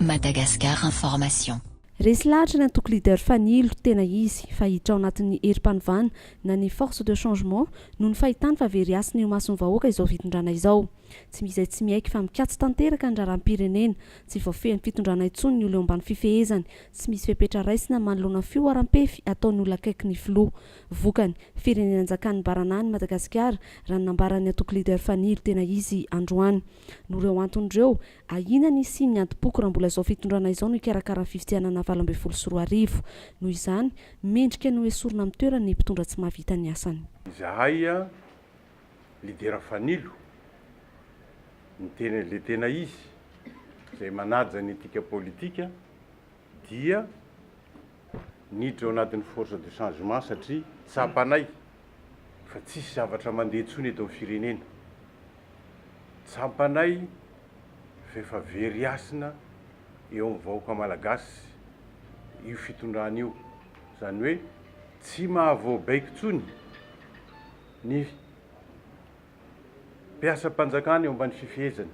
Madagascar Information. Resy lahatra ny antoko Leader Fanilo, tena izy, fa hiditra ao anatin'ny herim-panovana na ny Force de changement noho ny fahitany fa very hasina eo imason'ny vahoaka izao fitondrana izao. Tsy misy izay tsy miaiky fa mikatso tanteraka ny raharaham-pirenena. Tsy voafehin'ny fitondrana intsony ny olona eo ambany fifehezany. Tsy misy fepetra raisina manoloana fihoaram-pefy ataon'ny olona akaiky ny filoha. Vokany, firenena anjakan'ny baranahiny i Madagasikara, raha ny nambaran'ny antoko Leader Fanilo tena izy androany. Noho ireo antony ireo, ahiana ny hisian'ny adim-poko raha mbola izao fitondrana izao no hikarakara ny fifidianana valo ambin'ny folo sy roa arivo. Noho izany, mendrika ny hoesorina amin'ny toerany ny mpitondra tsy mahavita ny asany. Izahay lidera fanilo ny tena le tena izy izay manaja ny etika politika dia niditra ao anatin'ny force de changement satria tsapanay fa tsisy zavatra mandeha intsony eto amin'ny firenena tsapanay fa efa very hasina eo amin'ny vahoaka malagasy io fitondrana io izany hoe tsy mahavoabaiko intsony Ny mpiasam-panjakana eo ambany fifehezany,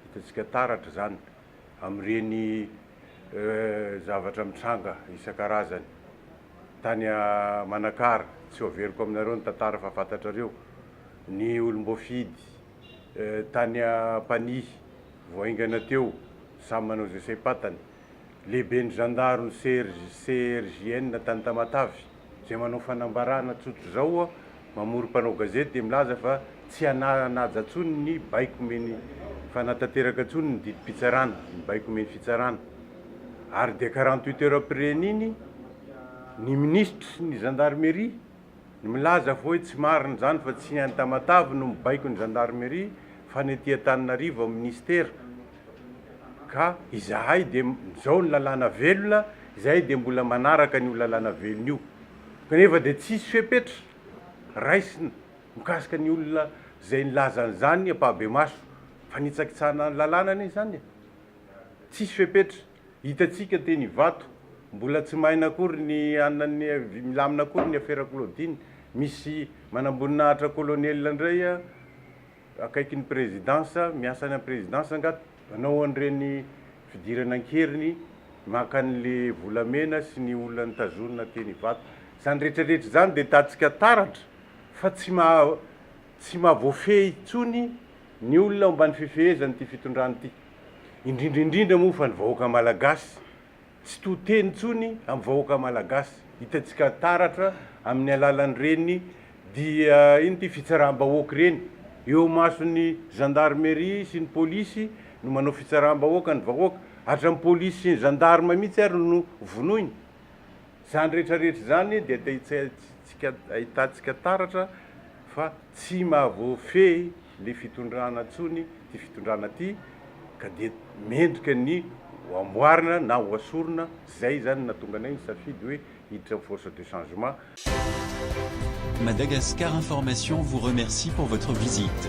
hitantsika taratra izany amin'ireny zavatra mitranga isan-karazany tany Manakara, tsy ho averiko aminareo ny tantara fa fantatrareo, ny olom-boafidy tany Ampanihy vao haingana teo samy manao izay saim-patany, lehiben'ny zandaron'i CRJN tany Tamatave, Izay manao fanambarana tsotra izao aho, mamory mpanao gazety dia milaza fa tsy hananaja intsony ny baiko omeny fa hanatanteraka intsony ny didim-pitsarana, ny baiko omeny fitsarana. Ary dia karan'ny Twitter am-pireny iny ny minisitry ny zandarimeria no milaza fa hoe tsy marina izany fa tsy ny any Tamatave no mibaiko ny zandarimeria fa ny aty Antananarivo amin'ny minisitera. ka izahay dia izao ny lalàna velona, izahay dia mbola manaraka an'io lalàna velona io, kanefa dia tsy hisy fepetra raisina mikasika ny olona izay nilaza an'izany ampahibemaso, fanitsakitsahana ny lalàna anie izany e! tsy hisy fepetra, hitantsika teny Ivato, mbola tsy maina akory ny anan'ny, milamina akory ny afera Claudine, misy manamboninahitra kolonely indray a! akaiky ny prezidansa, miasa any amin'ny prezidansa nga hanao an'ireny fidirana an-keriny maka an'le volamena sy ny olona nitazonina teny Ivato. Izany rehetra rehetra izany dia tatsika taratra fa tsy maha tsy maha voafehy intsony ny olona ao ambany fifehezan'ity fitondrana ity. Indrindra indrindra moa fa ny vahoaka malagasy. Tsy to teny intsony amin'ny vahoaka Malagasy. Hitantsika taratra amin'ny alalan'ireny dia inona ity fitsaram-bahoaka ireny. Eo imason'ny Gendarmerie sy ny Polisy no manao fitsaram-bahoaka ny vahoaka. Hatran'ny Polisy sy ny Gendarme mihitsy ary no vonoiny. Izany rehetra rehetra izany dia te ahitantsika taratra fa. Tsy mahavoafehy le fitondrana tsony ty fitondrana ty ka dia mendrika ny ho amboarina na ho asorina, zay zany natonga anay nisafidy hoe hiditra am force de changement. Madagascar Information vous remercie pour votre visite.